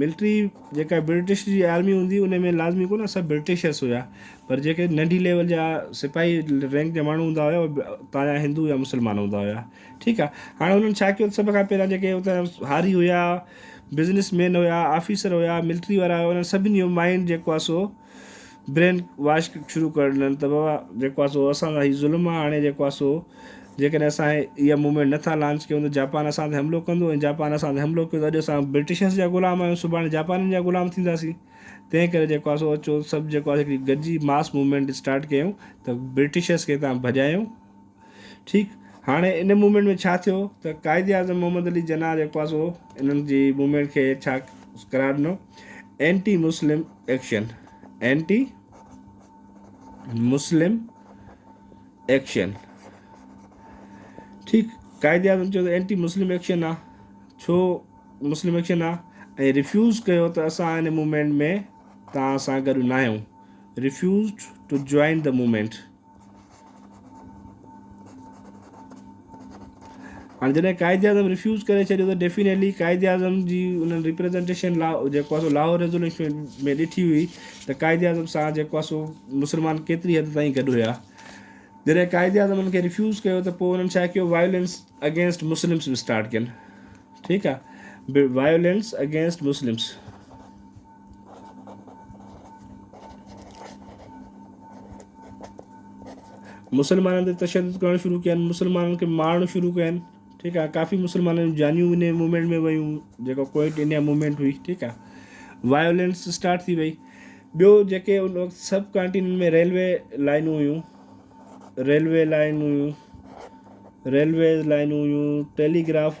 Military جيڪا British جي army هوندي هئي ان ۾ لازمي ڪونه سڀ برٽشرس هيا پر جيڪي ننڍي ليول جا سپاهي رينڪ جا ماڻهو هوندا هيا اهي اتان جا هندو يا مسلمان هوندا هيا ٺيڪ آهي هاڻي انهن ڇا ڪيو سڀ کان پهريان جيڪي اتان جا هاري هيا بزنس مين هيا آفيسر هيا ملٽري وارا هيا انهن سڀني جو مائنڊ جيڪو آهي سو برين واش شروع ڪرڻ ڏين ته بابا جيڪو آ سو اسان سان هي ظلم آ هاڻي جيڪو آ سو جيڪڏهن اسان هي اها موومينٽ نه ٿا لانچ ڪيون ته جاپان اسان تي حملو ڪندو ۽ جاپان اسان تي حملو ڪيو ته اڄ اسان برٽشرس جا غلام آهيون سڀاڻي جاپانين جا غلام ٿينداسين تنهن ڪري جيڪو آ سو اچو سڀ جيڪو آ سو هڪڙي گڏجي ماس موومينٽ اسٽارٽ ڪيون ته برٽشرس کي هتان ڀڄايون ٺيڪ هاڻي ان موومينٽ ۾ ڇا ٿيو ته قائد اعظم محمد علي جناح جيڪو آهي سو انهن جي موومينٽ کي ڇا قرار ڏنو anti Muslim action anti Muslim action ٺيڪ قائد اعظم چيو ته اينٽي مسلم ايڪشن آ ڇو مسلم ايڪشن آ ۽ ريفيوز ڪيو ته اسان ان موومينٽ ۾ تان سان گڏ ناهيون refused to join the movement هاڻي جڏهن قائداعظم ريفيوز ڪري ڇڏيو ته ڊيفينيٽلي قائداعظم جي انهن ريپريزنٽيشن جيڪو آهي سو لاهور ريزوليوشن ۾ ڏٺي هئي ته قائداعظم سان جيڪو آهي سو مسلمان ڪيتري حد تائين گڏ هيا جڏهن قائداعظم انهن کي ريفيوز ڪيو ته پوء انهن ڇا ڪيو وائلنس اگينسٽ مسلمس اسٽارٽ ڪين ٺيڪ آهي وائلنس اگينسٽ مسلمس مسلمانن تي تشدد ڪرڻ شروع ڪيا آهن مسلمانن کي مارڻ شروع ڪيا آهن ٺيڪ آهي ڪافي مسلمانن جون جانيون ان موومينٽ ۾ ويون جيڪو ڪوئٽ انڊيا موومينٽ هئي ٺيڪ آهي وايولينس اسٽارٽ ٿي وئي ٻيو جيڪي ان وقت سب ڪانٽينن ۾ ريلوي لائنون هيون ريلوي لائنون هيون ريلوي لائنون هيون ٽيليگراف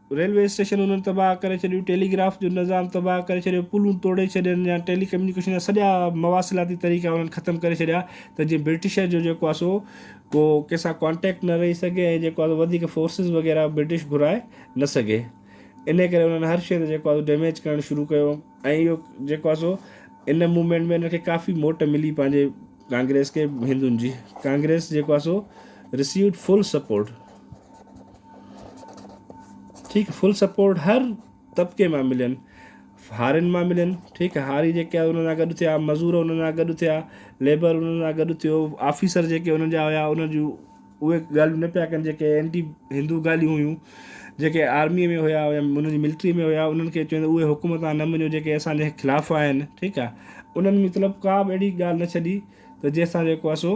ريلوي اسٽيشن انهن تباهه ڪري ڇڏيون، ٽيلي گراف جو نظام تباهه ڪري ڇڏيو، پلون ٽوڙي ڇڏين يا ٽيلي ڪميونيڪيشن جا سڄا مواصلاتي طريقا انهن ختم ڪري ڇڏيا ته جيئن برٽشر جو جيڪو آهي سو ڪو ڪنهن سان ڪانٽيڪٽ نه رهي سگهي ۽ جيڪو آهي سو وڌيڪ فورسز وغيره برٽش گهرائي نه سگهي انهي ڪري انهن هر شيء تي جيڪو آهي سو ڊيميج ڪرڻ شروع ڪيو ۽ اهو جيڪو آهي سو ان موومينٽ ۾ انهن کي ڪافي موٽ ملي پنهنجي ڪانگريس کي هندن جي ڪانگريس جيڪو آهي سو رسيوڊ فل سپورٽ. ٺيڪ آ فل سپورٽ هر طبقي مان ملين هارين مان ملين ٺيڪ آ هاري جيڪي آ انهن سان گڏ ٿيا مزور انهن سان گڏ ٿيا ليبر انهن سان گڏ ٿيو آفيسر جيڪي انهن جا هيا انهن جون اهي ڳالهيون نه پيا ڪن جيڪي اينٽي هندو ڳالهيون هيون جيڪي آرمي ۾ هيا يا انهن جي ملٽري ۾ هيا انهن کي چيو اهي حڪم تان نه مڃو جيڪي اسان جي خلاف آهن ٺيڪ آ انهن مطلب ڪا به اهڙي ڳالهه نه ڇڏي ته جنهن سان جيڪو آ سو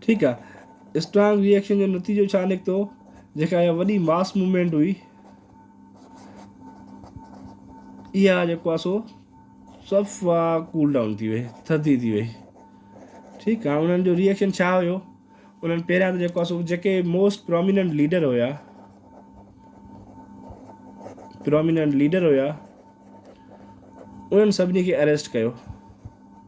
ٺيڪ آ اسٽرانگ ريئڪشن جو نتيجو ڇا نڪتو جيڪا اها وڏي ماس موومينٽ هئي اها جيڪو آ سو صفا ڪول ڊائون ٿي وئي ٿڌي ٿي وئي ٺيڪ آ انهن جو ريئڪشن ڇا هيو انهن پهريان ته جيڪو آ سو جيڪي موسٽ پروميننٽ ليڊر هيا پروميننٽ ليڊر هيا انهن سڀني کي اريسٽ ڪيو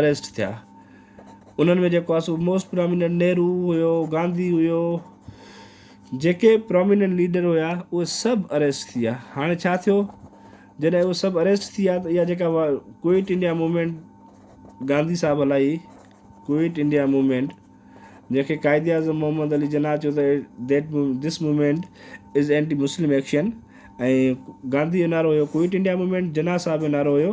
اريسٽ ٿيا انهن ۾ جيڪو آ سو موسٽ پراميننٽ نهرو هيو گانڌي هيو جيڪي پراميننٽ ليڊر هيا اهي سڀ اريسٽ ٿيا هاڻي ڇا ٿيو جڏهن اهي سڀ اريسٽ ٿيا ته اها جيڪا ڪوئٽ انڊيا موومينٽ گانڌي صاحب هلائي ڪوئٽ انڊيا موومينٽ جنهن کي قائد اعظم محمد علي جناح چيو ته that this movement is anti Muslim action ۽ Gandhi جو نعرو هيو quit India movement Jinnah Sahib جو نعرو هيو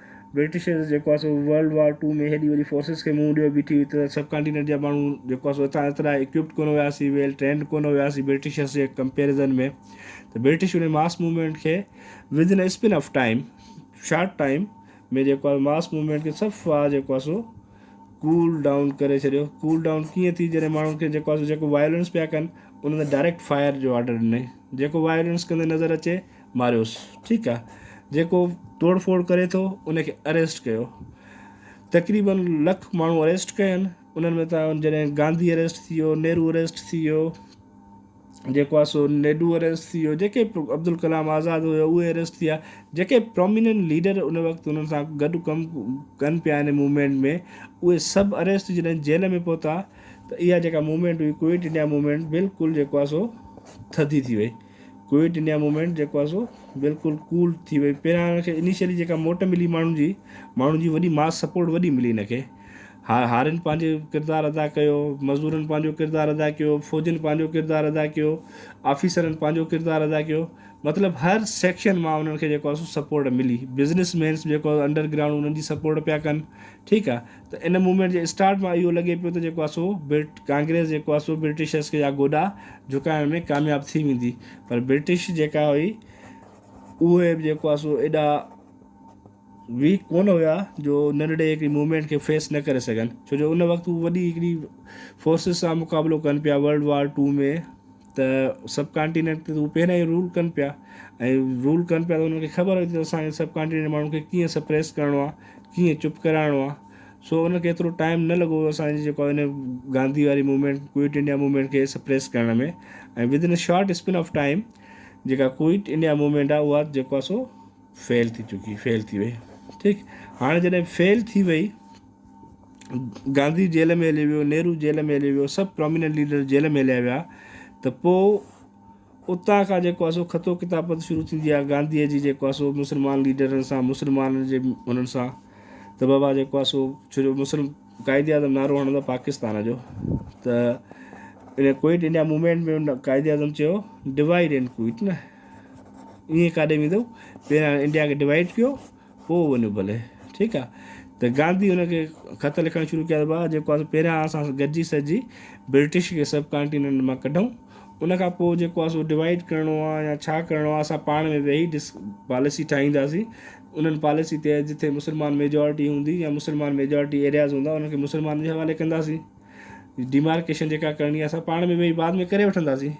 برٽشرز جيڪو آهي سو ورلڊ وار ٽو ۾ هيڏي وڏي فورسز کي منهن ڏيئو بيٺي هئي ته سب ڪانٽيننٽ جا ماڻهو جيڪو آهي سو هتان ايترا اڪوپڊ ڪونه هيا سي ويل ٽرينڊ ڪونه هيا سي برٽشرز جي ڪمپيرزن ۾ ته برٽش انهي ماس موومينٽ کي within span of time short time ۾ جيڪو آهي ماس موومينٽ کي صفا جيڪو آهي سو ڪول ڊائون ڪري ڇڏيو ڪول ڊائون ڪيئن ٿي جڏهن ماڻهن کي جيڪو آهي سو جيڪو وائلنس پيا ڪن انهن ڊائريڪٽ فائر جو آرڊر ڏني جيڪو وائلنس ڪندي نظر اچي ماريوس ٺيڪ آ جيڪو ٽوڙ ڦوڙ ڪري ٿو ان کي اريسٽ ڪيو تقريبن لک ماڻهو اريسٽ ڪيا آهن انهن ۾ تان جڏهن گانڌي اريسٽ ٿي ويو نهرو اريسٽ ٿي ويو جيڪو آ سو نيڊو اريسٽ ٿي ويو جيڪي عبدالڪلام آزاد هيو اهي اريسٽ ٿيا جيڪي پروميننٽ ليڊر ان وقت انهن سان گڏ ڪم ڪن پيا ان موومينٽ ۾ اهي سڀ اريسٽ جڏهن جيل ۾ پهتا ته اها جيڪا موومينٽ هئي ڪوئٽ انڊيا موومينٽ بلڪل جيڪو آ سو ٿڌي ٿي وئي ڪوئٽ انڊيا موومينٽ جيڪو آهي سو بلڪل ڪول ٿي وئي پهريان هن کي انيشلي جيڪا موٽ ملي ماڻهن جي ماڻهن جي وڏي ماس سپورٽ وڏي ملي هن کي هار هارين پنهنجي ڪردار ادا ڪيو مزدورن پنهنجو ڪردار ادا ڪيو فوجين پنهنجو ڪردار ادا ڪيو آفيسرن پنهنجو ڪردار ادا ڪيو مطلب هر سيڪشن مان انهن کي جيڪو آهي سو سپورٽ ملي بزنس مينس جيڪو انڊر گرائونڊ انهن جي سپورٽ پيا ڪن ٺيڪ آهي ته ان موومينٽ جي اسٽارٽ مان اهو لڳي پيو ته جيڪو آهي سو ڪانگريس جيڪو آهي سو برٽشرز کي جا گوڏا جهڪائڻ ۾ ڪامياب ٿي ويندي پر برٽش جيڪا هئي اهي به جيڪو آهي سو ايڏا ويڪ ڪونه هيا جو ننڍڙي هڪڙي موومينٽ کي فيس نه ڪري سگهن ڇو جو ان وقت هو وڏي هڪڙي فورسز سان مقابلو ڪن پيا ورلڊ وار ٽو ۾ ته سب ڪانٽينينٽ تي هو پهريائين رول ڪن پيا ۽ رول ڪن پيا ته انهن کي خبر هئي ته اسان سب ڪانٽينينٽ جي ماڻهن کي ڪيئن سپريس ڪرڻو آ ڪيئن چپ ڪرائڻو آ سو انهن کي ايترو ٽائيم نه لڳو اسانجي جيڪو هن گانڌي واري موومينٽ ڪوئٽ انڊيا موومينٽ کي سپريس ڪرڻ ۾ ۽ within a short span of time جيڪا ڪوئٽ انڊيا موومينٽ آ اها جيڪو آ سو فيل ٿي چڪي فيل ٿي وئي ٺيڪ هاڻي جڏهن فيل ٿي وئي گانڌي جيل ۾ هليو ويو، نهرو جيل ۾ هليو ويو، سڀ پراميننٽ ليڊر جيل ۾ هليا ويا ته پوء اتان کان جيڪو آسو خطو ڪتابت شروع ٿيندي آهي گانڌيء جي جيڪو آسو مسلمان ليڊرن سان مسلمانن جي انهن سان ته بابا جيڪو آسو ڇو جو مسلم قائد اعظم نعرو هڻندو آهي پاڪستان جو ته ان quit India movement ۾ Quaid Azam چيو ڊوائيڊ اينڊ ڪوئٽ نه ائين ڪاڏي ويندو پهريان انڊيا کي ڊوائيڊ ڪيو پوء وڃو ڀلي. ٺيڪ آ. ته گانڌي هن کي خط لکڻ شروع ڪيا ته ڀاء جيڪو آسي پهريان اسان گڏجي سڏجي برٽش کي سب ڪانٽيننٽ مان ڪڍون ان کان پوء جيڪو آ سو ڊوائيڊ ڪرڻو آ يا ڇا ڪرڻو آ اسان پاڻ ۾ ويهي ڊس پاليسي ٺاهينداسين انهن پاليسي تحت جتي مسلمان ميجارٽي هوندي يا مسلمان ميجارٽي ايرياز هوندا انهن کي مسلمانن جي حوالي ڪنداسين ڊيمارڪيشن جيڪا ڪرڻي آ اسان پاڻ ۾ ويهي بعد ۾ ڪري وٺنداسين.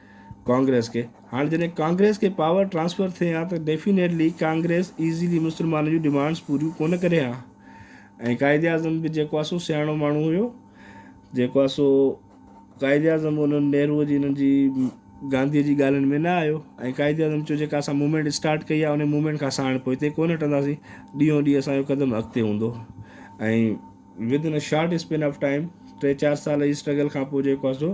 ڪانگريس کي هاڻ جڏهن ڪانگريس کي پاور ٽرانسفر ٿئي ها ته ڊيفينيٽلي ڪانگريس ايزيلي مسلمانن جون ڊمانڊس پوريون ڪونه ڪري ها ۽ قائد اعظم به جيڪو آ سو سياڻو ماڻهو هيو جيڪو آ سو قائد اعظم به انهن نهرو جي انهن جي گانڌي جي ڳالهين ۾ نه آيو ۽ قائد اعظم چيو جيڪا اسان موومينٽ اسٽارٽ ڪئي آ انهي موومينٽ کان ساڻ پوئتي ڪونه هٽنداسين ڏينهون ڏينهن اسان جو قدم اڳتي هوندو ۽ within short span of time ٽي چار سال جي اسٽرگل کان پوء جيڪو آ سو